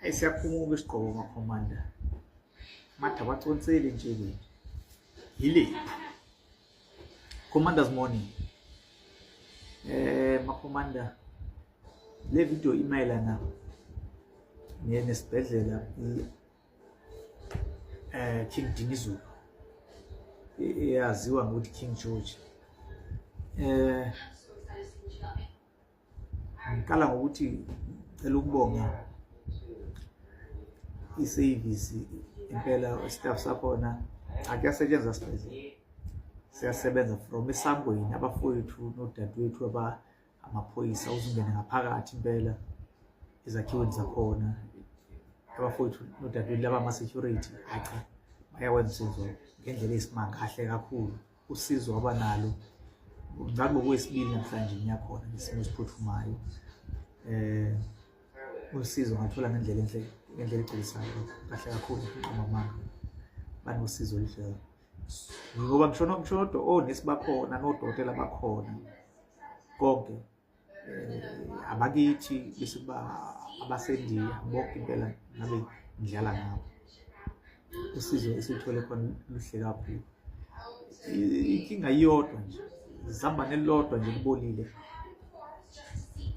Hey siyaphumuka isigqoko makhomanda. Matha baconsele nje ke. Yile. Commander's morning. Eh makhomanda le video imayelana nesibhedlela eh King Dinizulu eyaziwa ngokuthi King George eh ngiqala ngokuthi ngicela ukubonga isevisi impela staff sakhona akuyasetshenzwa sibhedlela siyasebenza from esangweni abafowethu nodadewethu aba amaphoyisa uzungene ngaphakathi impela ezakhiweni zakhona abafowethu nodadewethu laba ama-security acha bayawenza usizo ngendlela eyisimanga kahle kakhulu usizo waba nalo ngabe ngokwesibili namhlanje ngiyakhona ngesimo esiphuthumayo eh usizo ngathola ngendlela enhle ngendlela egculisayo kahle kakhulu nqoma manga banosizo oluhle ngoba ngisho ngisho nodwa onesi bakhona nodokotela bakhona konke eh, abakithi bese kuba abasendiya bonke impela ngabe ngidlala ngabo usizo esithole khona luhle kakhulu inkinga iyodwa nje zihamba nelodwa nje libolile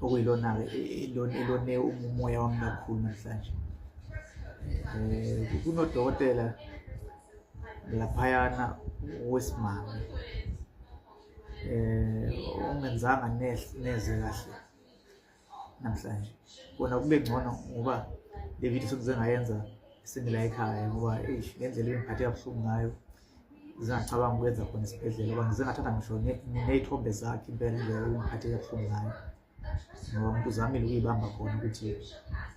okuyilona-ke elone umoya wami kakhulu namhlanje um kunodokotela laphayana wesimame eh ungenzanga neze kahle namhlanje kona kube ngcono ngoba le video sokuze ngayenza singila ekhaya ngoba eish ngendlela engiphathe kabuhlungu ngayo zingacabanga ukwenza khona esibhedlela ngoba ngize ngathatha ngisho ney'thombe zakhe impela nje engiphathe kabuhlungu ngayo ngoba umuntu uzamile ukuyibamba khona ukuthi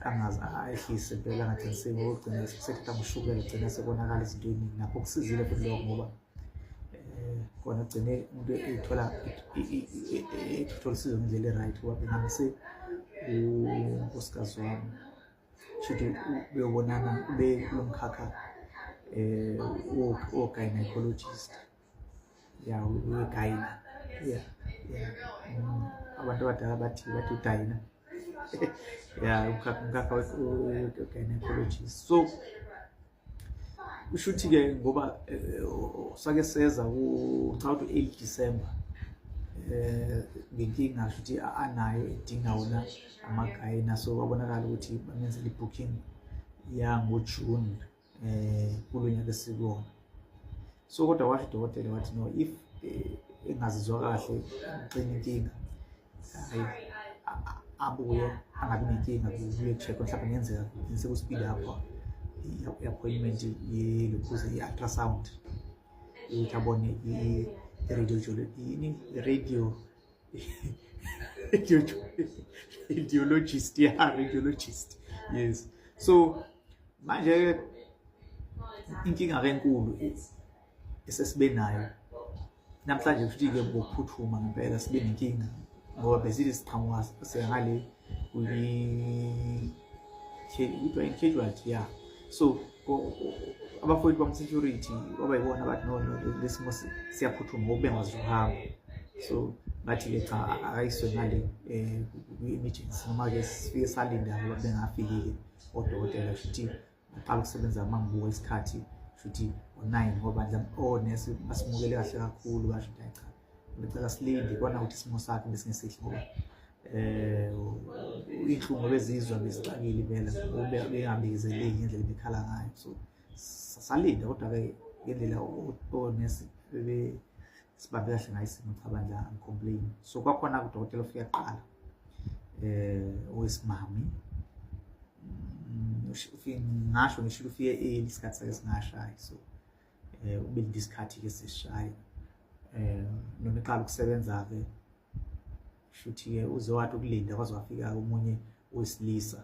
angazi ayehlise impela angathengiseki ngoba ugcina sekuthatha ushukela ugcina sekonakala izinto eziningi nakho kusizile futhi lokho ngoba eh, kona gcine umuntu ethola ethola usizo ngendlela e-right ngoba phela ngise unkosikazi wami shuthi beyobonana ube kulo mkhakha um eh, wogynecologist ya uyedayina ya ya Mm. abantu abadala bathi bathi udayina ya umkhakha umkhakha we-gynecologist so kusho ukuthi-ke ngoba eh, sake seza ngicabanga ukuthi u-eight december um ngenkinga sho ukuthi a- anayo edinga wona amagayina so kwabonakala ukuthi bamenzela i-booking yangojune eh kulo nyaka esiwona so kodwa washo udokotela wathi no if eh, engazizwa kahle uxina inkinga abuye angabi nenkinga kuye check mhlawumbe ngenzeka ngise ku speed up i-appointment yelokhuze i-ultrasound ukuthi abone i-radio ideologist yeah ideologist yes so manje inkinga ke enkulu esesibe nayo namhlanje futhi ke ngokuphuthuma ngempela sibe nenkinga ngoba bezile siqhamuka sengale kwi casualty ya so abafowethu bamsecurity kwaba yibona abathi no lesimo siyaphuthuma ngoba bengazi ukuhamba so ngathi-ke cha akayiswe ngale um kwi-emergency noma-ke sifike salinde abo bengafikile odokotela futhi aqala ukusebenza uma ngibuka isikhathi shuthi ngo-nine ngoba nje onesi basimukele kahle kakhulu basho ukuthi cha ngicela silinde kona ukuthi isimo sakhe besingesihle ngoba eh inhlungu bezizwa bezixakile impela bengabizeleki ngendlela bekhala ngayo so salinda kodwa-ke ngendlela onesi bebe sibambe kahle ngayo isimo cha bandla angicomplain so kwakhona kudokotela ofika kuqala eh owesimami mm, ufike ngasho ngisho ufike early isikhathi sake singashayi so eh ubelinde isikhathi ke sishaye eh noma iqala ukusebenza ke shuthi ke uze wathi ukulinda kwaze wafika omunye wesilisa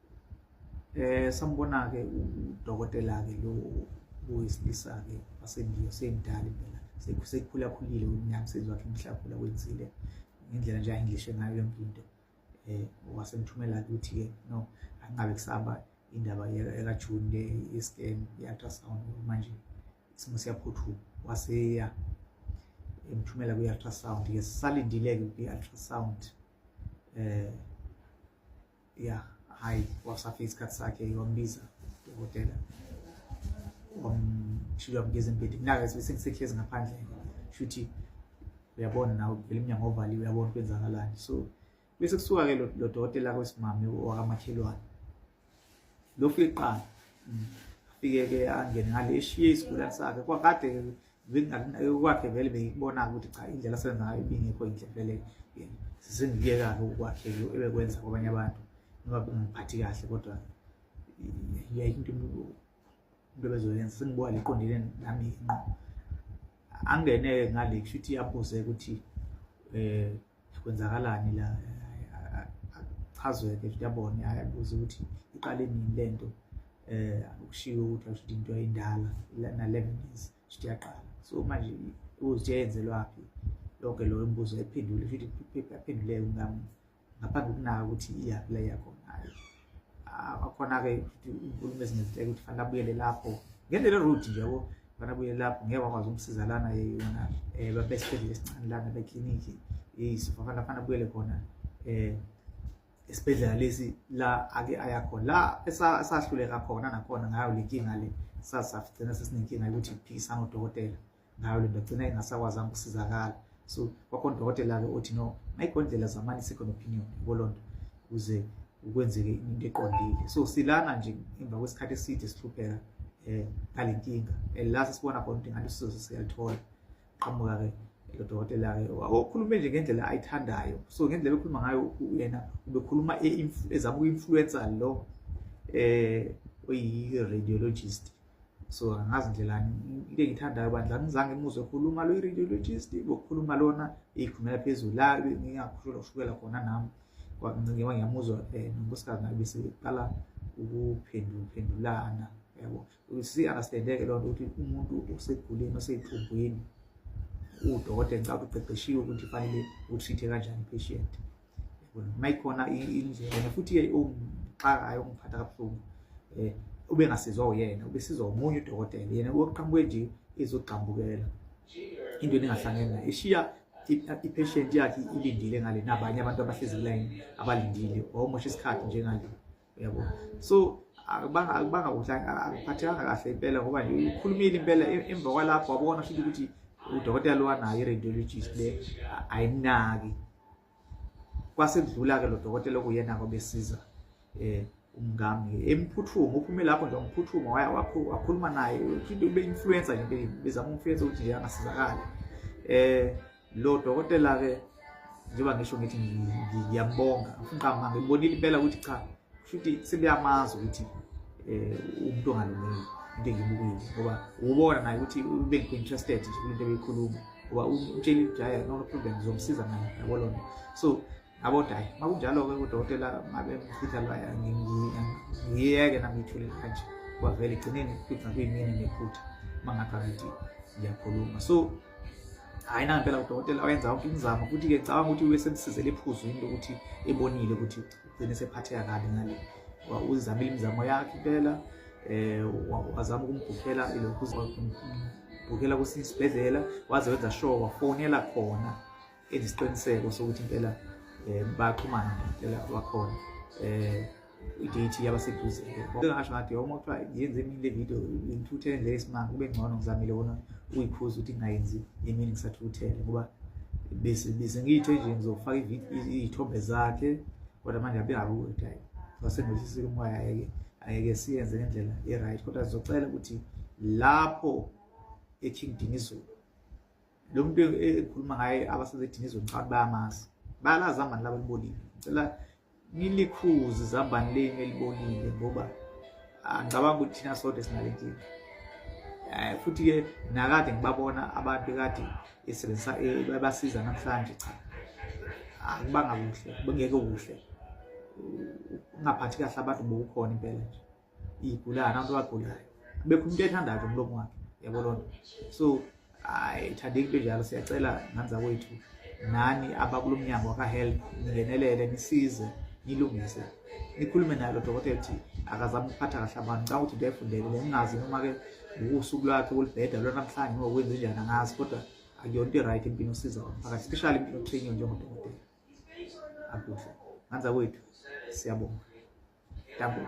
eh sambona-ke udokotela-ke lo owesilisa-ke wasendiya semdala impela sekukhulakhulile umnyamsezi wakhe mhlakula wenzile ngendlela nje ayenglishe ngayo yonke into eh wasemthumela ukuthi ke no angabe kusaba indaba yekajuni le i-scan i-ultrasound manje isimo siyaphuthuma waseya emthumela kwi-ultrasound ke sisalindile-ke kwi-ultrasound eh ya hayi wasafika isikhathi sakhe wambiza udokotela wamshiya wamgeza embhedeni mina-ke sengisehlezi ngaphandle shuthi uyabona nawe vele umnyango ovaliwe uyabona kwenzakalani so bese kusuka-ke lo dokotela kwesimame wakamakhelwane lo fika kuqala mm. afike-ke angene ngale eshiye isigulane sakhe kwakade-ke kwakhe vele beyikubona ukuthi cha indlela asebenza ngayo ibingekho yinhle vele sengikuyekake ukwakhe ebekwenza kwabanye abantu ngoba kungiphathi kahle kodwa yayikho into into ebezoyenza sengibuka liqondile nami nqo angene ngale kusho ukuthi iyaphuzeka ukuthi um kwenzakalani la achazweke nje yabona ayabuza ukuthi iqale nini lento eh ukushiyo ukuthi asho into ayindala na 11 years sho yaqala so manje uthi yenzelwaphi lonke lo mbuzo ephendule futhi aphenduleke ngami ngaphambi kunaka ukuthi iyaphi la yakhona Ah, akhona-ke ukuthi unkulumo ezinye ziteke ukuthi fanele abuyele lapho ngendlela erude nje yabo fanele abuyele lapho ngeke wakwazi ukumsiza lana yona um babesibhedlela esincane lana beklinikhi yeyiso fanele fanele abuyele khona um esibhedlela lesi la ake aya khona la esa- esahluleka khona nakhona ngayo le nkinga le sasigcina sesinenkinga yokuthi phikisana odokotela ngayo lento agcina engasakwazanga ukusizakala so kwakhona udokotela-ke othi no mayikondlela zamani second opinion kolonto ukuze ukwenzeke into eqondile so silana nje emva kwesikhathi eside sihlupheka um ngale nkinga and la sesibona khona ukuthi ngathi usizo siyalithola qhamuka-ke lo dokotela-ke okhulume nje ngendlela ayithandayo so ngendlela ekhuluma ngayo yena ubekhuluma e-, ezama uku-influensa lo um oyi-radiologist so angazi ndlelani into engiyithandayo bandla ngizange ngimuzwe ekhuluma lo i-radiologist ngokukhuluma lona iyikhumela phezulu la ngingakhushelwa ushukela khona nami ngiba ngiyamuzwa um eh, nonkosikazi naye beseqala ukuphendulana yabo si-understandeke loo nto ukuthi umuntu osegulini oseyithungwini udokotela ngicabanga uqeqeshiwe ukuthi fanele uthithe kanjani i-patient mayikhona indlela futhi-ke ongixakayo ongiphatha kabuhlungu um eh, ube ngasizwa uyena ubesizwa omunye udokotela yena wokuqhamuke nje ezogxambukela into eningahlangene nayo ishiya i-patient yakhe ilindile ngale nabanye abantu abahlezi kulayini abalindile wawumosha isikhathi njengale yabo so akubanga kuhle akuphathekanga kahle impela ngoba ukhulumile impela emva kwalapho wabona futhi ukuthi udokotela lo anayo i-radiologist le ayinaki kwasekudlula-ke lo dokotela okuyena-ke obesiza um umngami emphuthuma uphume lapho nje umphuthuma wakhuluma naye ube-influencer nje bezama umfluencer ukuthi nje angasizakali um lo dokotela ke njengoba ngisho ngithi ngiyambonga ngifuna ngibonile impela ukuthi cha futhi sebeyamazi ukuthi eh umuntu ongalungile into engibukile ngoba ubona naye ukuthi ube interested nje kulento ebeyikhuluma ngoba umtshela ukuthi hayi no problem ngizomsiza naye yabo lona so aboda hayi makunjalo-ke kudokotela mabemfihlalwayo ngiyeke nangiyithule kanje kwavele igcineni kuthi nakuyimini nephutha uma ngathi angithi ngiyakhuluma so hhayi nangempela udokotela wayenza wonke imizamo futhi-ke cabanga ukuthi ube semsizele ephuzwini lokuthi ebonile ukuthi ugcine sephatheka kabi ngale uzamile imizamo yakhe impela um wazama ukumbhukhela lokhu umbhukhela kwesinye isibhedlela waze wenza sure wafonela khona isiqiniseko sokuthi impela um bayaxhumana ngempela bakhona um idate yabaseduze ngasho ngathi yoma kuthiwa yenze emini le video ngithuthele nje isimanga kube ngcono ngizamile wona uyiphuza ukuthi ngingayenzi emini ngisathuthele ngoba bese ngiyithe nje ngizofaka iy'thombe zakhe kodwa manje abengakuyoti hayi wasengosisile umoya ayeke ayeke siyenze ngendlela e-right kodwa sizocela ukuthi lapho eking dinizulu lo muntu ekhuluma ngaye abasezethini izwe ngicabanga bayamazi bayalazi amani laba libolile ngicela nilikhuze izambane leni elibolile ngoba angicabanga ukuthi thina sodwa sinale nkinga um futhi-ke nakade ngibabona abantu kade esebenzisa babasiza namhlanje cha akubanga kuhle bengeke kuhle ungaphathi kahle abantu bokukhona impela nje iy'gulana abantu abagulayo bekho umuntu ethandayo nje umlomo wakhe yabo loo nto so hayi thandeki into njalo siyacela ngani zakwethu nani abakulo mnyango wakahelp ningenelele nisize nilungise nikhulume naye lo dokotela ukuthi akazami ukuphatha kahle abantu ngicanga ukuthi into ayifundele bengingazi noma-ke ngokusuku lwakhe kulibheda lona namhlanje noma kwenze njani angazi kodwa akuyona into i-right impilo osiza umphakathi especially impilo training njengodokotela akuhle nganza kwethu siyabonga double